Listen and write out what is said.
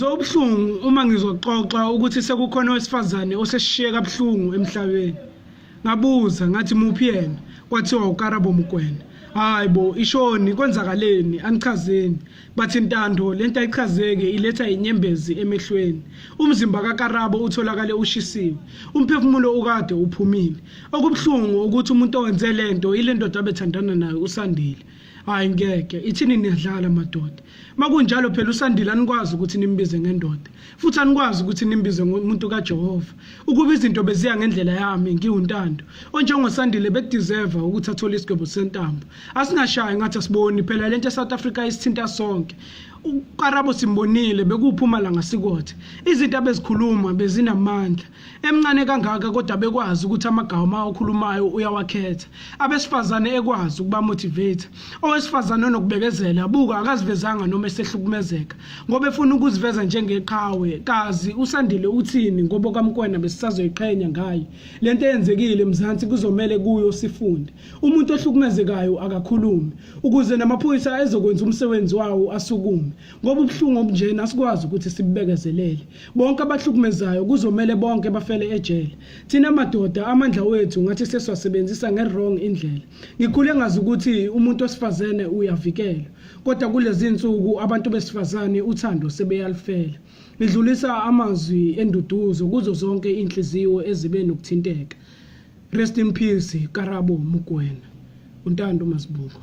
Zobuhlungu uma ngizoxoxa ukuthi sekukhona owesifazane osesishiye kabuhlungu emhlabeni. Ngabuza ngathi muphi yena? Kwathiwa uKarabo Mokwena. Hayi bo, ishoni kwenzakaleni angichazeni. Bathi Ntando lento ayichazeke iletha inyembezi emehlweni. Umzimba kaKarabo utholakale ushisiwe. Umphefumulo ukade uphumile. Okubuhlungu ukuthi umuntu owenze lento ile ndoda abethandana nayo usandile. hayi ngeke ithini niyadlala madoda makunjalo phela usandile anikwazi ukuthi nimbize ngendoda futhi anikwazi ukuthi nimbize ngomuntu kajehova ukuba izinto beziya ngendlela yami ngiwuntando onjengosandile bekudeserva ukuthi athole isigwebo sentambo asingashayi ngathi asiboni phela le nto esouth africa isithinta sonke ukarabo simbonile bekuwuphuma la ngasikothe izinto abezikhuluma bezinamandla emncane kangaka kodwa bekwazi ukuthi amagama okhulumayo uyawakhetha abesifazane ekwazi ukuba motivate owesifazane onokubekezela buka akazivezanga noma esehlukumezeka ngoba efuna ukuziveza njengeqhawe kazi usandile uthini ngoba kamkwena besisazoyiqhenya ngaye lento eyenzekile emzansi kuzomele kuyo sifunde umuntu ohlukumezekayo akakhulumi ukuze namaphoyisa ezokwenza umsebenzi wawo asukume Ngoba ubuhlungu obunjena asikwazi ukuthi sibubekezelele. Bonke abahlukumezayo kuzomele bonke bafele ejele. Thina madoda amandla wethu ngathi sesiwasebenzisa nge-wrong indlela. Ngikhule ngazi ukuthi umuntu osifazene uyavikelwa. Kodwa kulezi nsuku abantu besifazane uthando sebeyalifela. Ngidlulisa amazwi enduduzo kuzo zonke inhliziyo ezibe nokuthinteka. Rest in peace Karabo Mugwena. Untando Masibukwa.